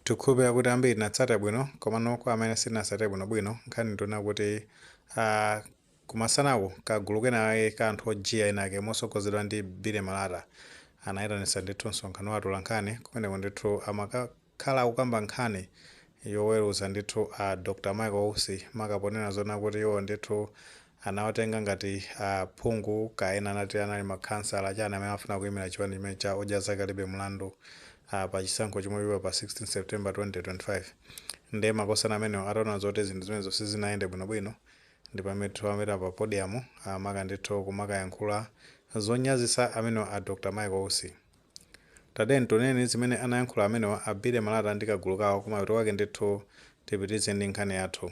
Tikukhulupirira kuti ambiri tinatsata bwino, komano kwa amene sitinatsate bwinobwino nkhani ndi yonena kuti ah, kumasanaku kagulu kenakake ka anthu ojiya enaake motsogozedwa ndi Billy Malata anayitanitsa ndithu msonkhano wa atolankhani kumeneko ndithu amakakhala akukamba nkhani yoweruza ndithu a Dr. Michael Usi maka ponena zona kuti iwo ndithu anawatenga ngati a phungu kaya ena akuti anali ma khansala chani amene amafuna kuyimira chipani chimene cha odya zake alibe mlandu pa chisankho chomwe chibwera pa 16 September 2025 nde makosana amenewo ataona zoti zinthu zimenezo sizinayende bwino bwino ndi pamene ndithu anapita pa podium maka ndithu kumakayankhula zonyazisa amenewo a Dr Michael Usi Tatiyeni tiwoneni zimene anayankhula amenewa a Billy Malata ndi kagulu kawo kumapeto kwake ndithu tipitilize ndi nkhani yathu.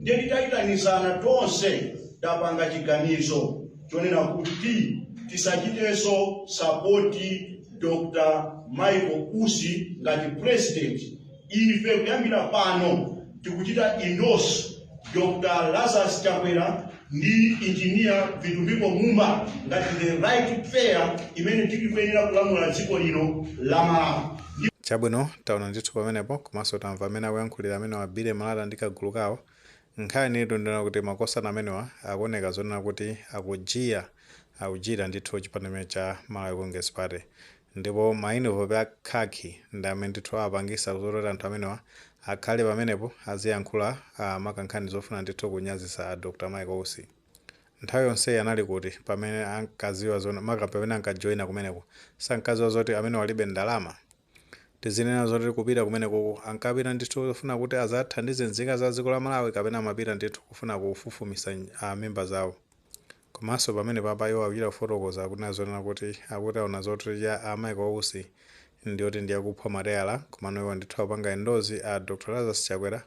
Ndiye titaitanizana tonse tapanga chiganizo chonena kuti tisachitenso sapoti Dr Michael Usi ngati president. Ife kuyambira pano tikuchita endorse Dr. Lazarus Chakwera ndi engineer Vitumbiko Mumba ngati the right pair imene ikuyenera kulamula dziko lino la Malawi. Chabwino, taona ndithu pamenepo komanso tamva mmene akuyankhulira amenewa Billy Malata ndi kagulu kawo. Nkhani itu ndi yonena kuti makosana amenewa akuoneka zonena kuti akujiya akujiira ndithu chipani chimene cha Malawi Congress Party. Ndipo ma inivopi a khakhi ndi amene ndithu apangisa zoti anthu amenewa akhale pamenepo aziyankhula maka nkhani zofuna ndithu kunyazisa a Dr Michael Usi. Nthawi yonseyi anali kuti pamene ankaziwa zona maka pamene ankajoina kumeneko? Sankaziwa zoti amenewo alibe ndalama? Tizinena zoti kupita kumenekoko ankapita ndithu kufuna kuti azathandize nzika za dziko la Malawi kapena amapita ndithu kufuna kufufumisa a mimba zawo? Komanso pamene papa iwo akuchita kufotokoza akunena zonena kuti akuti aona candidacy ya a Michael Usi ndiyoti ndiyakuphwa mateyala komano iwo ndithu akupanga endorse a Dr Lazarus Chakwera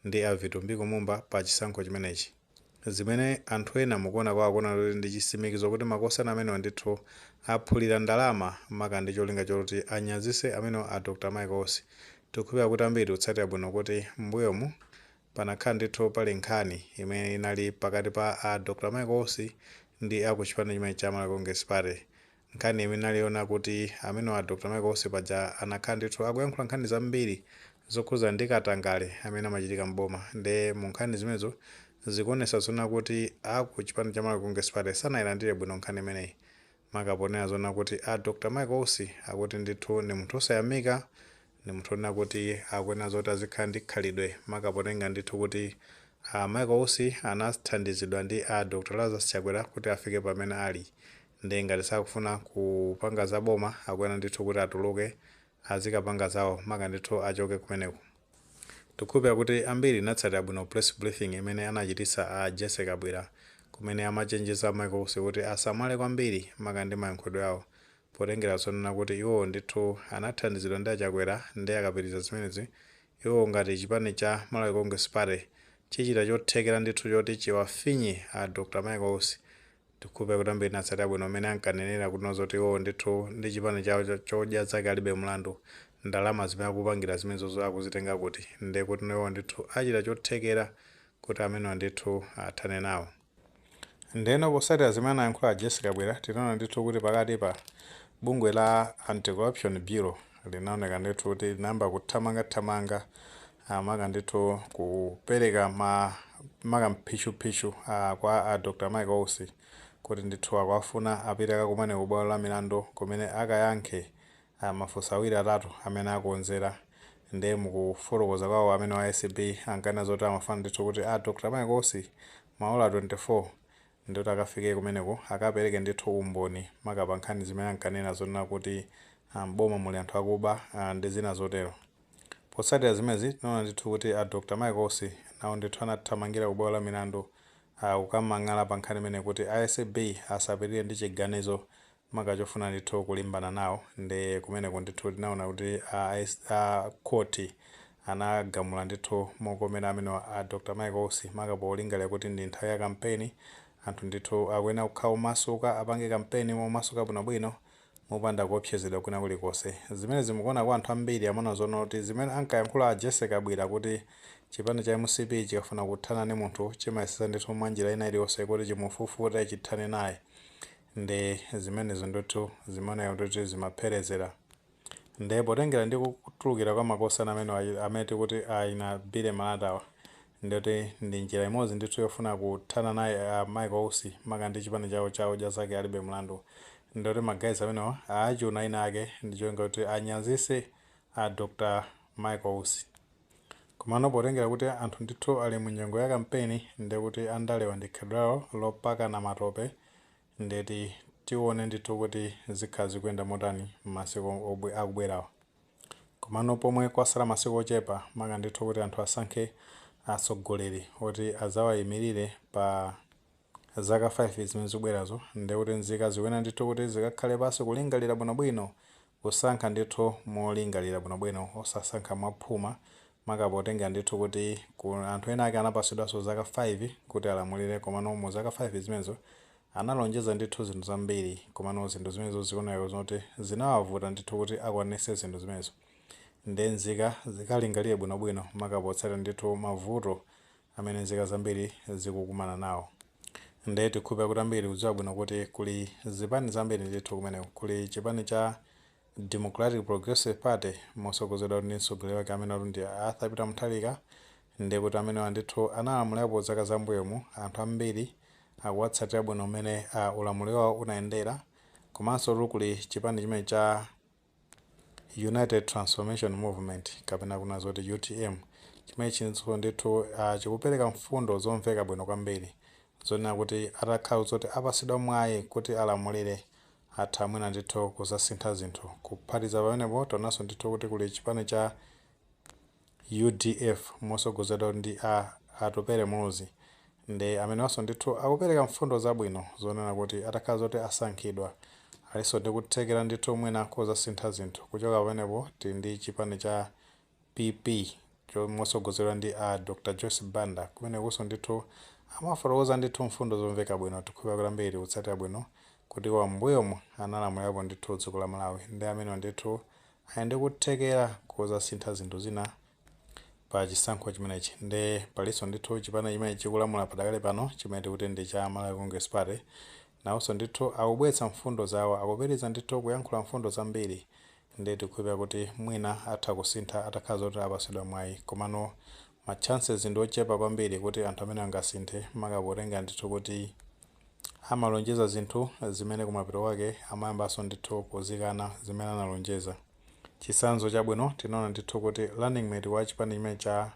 ndi a Vitumbiko Mumba pa chisankho chimenechi zimene anthu ena mukuona kwao kuona kuti ndi chisimikizo kuti makosana amenewa ndithu aphulira ndalama maka ndi cholinga choti anyazise amenewa a Dr Michael Usi tikukhulupira kuti ambiri tikutsatira bwino kuti mmbuyomu Panakhala ndithu pali nkhani imene inali pakati pa a Dr Michael Usi ndi a ku chipani chimenechi cha Malawi Congress Party. Nkhani imene inali yonena kuti amenewa a Dr Michael Usi paja anakhala ndithu akuyankhula nkhani zambiri zokhudzana ndi katangale amene amachitika m'boma nde mu nkhani zimenezo zikuonetsa zona kuti a ku chipani cha Malawi Congress Party sanayilandire bwino nkhani imeneyi maka poona zonena kuti a Dr Michael Usi akuti ndithu ndi munthu osayamika, ndi munthu onena kuti akuyenera zoti azikhala ndi khalidwe maka potenga ndithu kuti a Michael Usi anathandizidwa ndi a Dr Lazarus Chakwera kuti afike pamene ali, ndiye ngati sakufuna kupanga za boma akuyenera ndithu kuti atuluke azikapanga zawo maka ndithu achoke kumeneko. Tikukhulupira kuti ambiri munatsatira bwino press briefing imene anachititsa a Jessie Kabwila kumene amachenjeza Michael Usi kuti asamale kwambiri maka ndi mayankhulidwe awo potengera zonena kuti iwowo ndithu anathandizidwa ndi a Chakwera nde akapitiriza zimenezi iwowo ngati chipani cha Malawi Congress Party chichita chothekera ndithu kuti chiwafinye a Dr Michael Usi Ndikukhulupira kuti ambiri munatsatira bwino mmene ankanenera kuti no zoti iwowo ndithu ndi chipani chawo cha Odya Zake alibe mlandu. Ndalama zimene akupangira zimenezozo akuzitenga kuti? Nde kuti no iwowo ndithu achita chothekera kuti amenewa ndithu athane nawo. Ndeno potsatira zimene anayankhula a Jessie Kabwila tinaona ndithu kuti pakatipa bungwe la Anti-Corruption Bureau linaoneka ndithu kuti linayamba kuthamanga thamanga a maka ndithu kupereka ma maka mphishuphishu a kwa a Dr Michael Usi kuti ndithu akuwafuna apite akakumane ku bwalo la milandu kumene akayankhe a mafunso awiri atatu amene akonzera nde mukufotokoza kwawo amene wa acb ankanena zoti amafuna ndithu kuti a Dr Michael Usi maola 24 ndithu akafike kumeneko akapereke ndithu umboni maka pa nkhani zimene ankanena zonena kuti a m'boma muli anthu akuba a ndi zina zotero. Potsatira zimenezi, tinaona ndithu kuti a Dr. Michael Usi nawo ndithu anathamangira ku bwalo la milandu a kukamang'ala pa nkhani imeneyi kuti a acb asapitirire ndi chiganizo maka chofuna ndithu kulimbana nawo ndi kumeneko ndithu tinaona kuti a a khoti anagamula ndithu mokomera amenewa a Dr. Michael Usi maka polingalira kuti ndi nthawi ya kampeni anthu ndithu akuyenera kukhala omasuka apange kampeni momasuka bwinobwino mopanda kuopsezedwa kwina kulikonse. Zimenezi mu kuona kwa anthu ambiri amaona zonena kuti zimene ankayankhula a Jessie Kabwila kuti chipani cha mcp chikafuna kuthana ndi munthu chimayesetsa ndithu mwa njira ina iliyonse kuti chimufufute chithane naye ndi zimenezo ndithu zimaoneka kuti zimapherezera nde potengera ndi kutulukira kwa makosana amenewa amene tikuti a Billy Malatawa Ndikuti ndi njira imodzi ndithu yofuna kuthana naye a Michael Usi maka ndi chipani chawo cha Odya Zake Alibe Mlandu. Ndikuti ma guys amenewa awachuna enaake ndi cholinga choti anyazitse a Dr Michael Usi. Komano potengera kuti anthu ndithu ali mu nyengo ya kampeni ndekuti andalewa ndi khalidwe lawo lopakana matope ndeti tione ndithu kuti zikhala zikuyenda motani m'masiku akubwerawa. Komano pomwe kwatsala masiku ochepa maka ndithu kuti anthu asankhe atsogoleri oti adzawaimilire pa zaka 5 zimene zikubwerazo ndiye kuti nzika zikuyenera ndithu kuti zikakhale pansi kulingalira bwinobwino, kusankha ndithu molingalira bwinobwino osasankha mwaphuma maka potengera ndithu kuti anthu ena ake anapatsidwanso zaka 5 kuti alamulire komano mu zaka 5 zimenezo Analonjeza ndithu zinthu zambiri, komano zinthu zimenezo zikuoneka zoti zinawavuta ndithu kuti akwanitse zinthu zimenezo. Ndiye nzika zikalingalire bwinobwino, maka potsatira ndithu mavuto amene nzika zambiri zikukumana nawo. Ndiye tikhulupirira kuti ambiri tikudziwa bwino kuti kuli zipani zambiri ndithu kumeneko. Kuli chipani cha Democratic Progressive Party motsogozedwatu ndi mtsogoleri wake amenewatu ndi a Arthur Peter Mutharika. Ndiye kuti amenewa ndithu analamulirapo zaka za m'mbuyomu, anthu ambiri akuwatsatira bwino mmene ulamuliro wawo unayendera komanso tu kuli chipani chimene cha United Transformation Movement kapena kunena zoti utm chimene ichinso ndithu a chikupereka mfundo zomveka bwino kwambiri zonena kuti atakhala zoti apatsidwa mwayi kuti alamulire atha mwina ndithu kudzasintha zinthu kuphatiza pamenepo tionanso ndithu kuti kuli chipani cha Udf motsogozedwa ndi a Atupele Muluzi nde amenewanso ndithu akupereka mfundo zabwino zonena kuti atakhala zoti asankhidwa alinso ndi kuthekera ndithu mwina kodzasintha zinthu kuchoka pamenepo tili ndi chipani cha PP motsogozedwa ndi a Dr Joyce Banda kumenekunso ndithu amafotokoza ndithu mfundo zomveka bwino tikhulupira kuti ambiri tikutsatira bwino kuti iwowa m'mbuyomu analamulirapo ndithu dziko la Malawi nde amenewa ndithu Ali ndi kuthekera kodzasintha zinthu zina pa chisankho chimenechi nde palinso ndithu chipani chimene chikulamula padakali pano chimene tikuti ndi cha Malawi Congress Party nawonso ndithu akubweretsa mfundo zawo akupitiliza ndithu kuyankhula mfundo zambiri nde tikukhulupira kuti mwina atha kusintha atakhala zoti apatsidwa mwayi komano ma chances ndi ochepa kwambiri kuti anthu amenewa angasinthe maka potengera ndithu kuti Amalonjeza zinthu zimene kumapeto kwake amayambanso ndithu kuzikana zimene analonjeza. Chitsanzo chabwino tinaona ndithu kuti running mate wa chipani chimenechi cha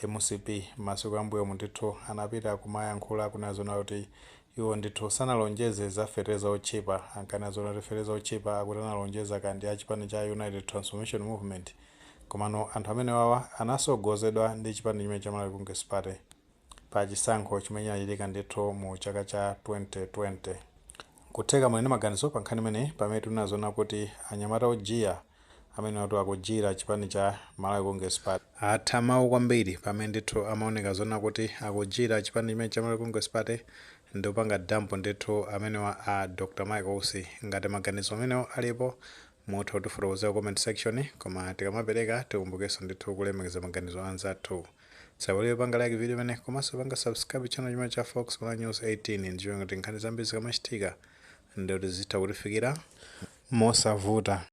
mcp masiku a m'mbuyomu ndithu anapita kumayankhula akunena zonena kuti iwo ndithu sanalonjeze za fetereza otchipa. Ankanena zonena kuti fetereza otchipa akuti analonjeza kaya ndi a chipani cha United Transformation Movement. Komano anthu amenewawa anatsogozedwa ndi chipani chimene cha Malawi Congress Party. pa chisankho chimene chinachitika ndithu mu chaka cha 2020. Nkutheka muli ndi maganizo pa nkhani imeneyi pamene tikunena zoona kuti anyamata ojiya amenewatu akujiyira chipani cha Malawi Congress Party. Atha mawu kwambiri pamene ndithu amaoneka zoona kuti akujiyira chipani chimenechi cha Malawi Congress Party ndi kupanga dump ndithu amenewa a Dr Michael Usi. Ngati maganizo amenewo alipo mutha kutifotokozera ku comment section koma tikamapereka tikumbukenso ndithu kulemekeza maganizo a anzathu. Osaiwala kupanga like video imene komanso kupanga subscribe channel chimene cha Fox Malawi News 18 ndi cholinga choti nkhani zambiri zikamachitika nde zizitha kukufikirani mosavuta.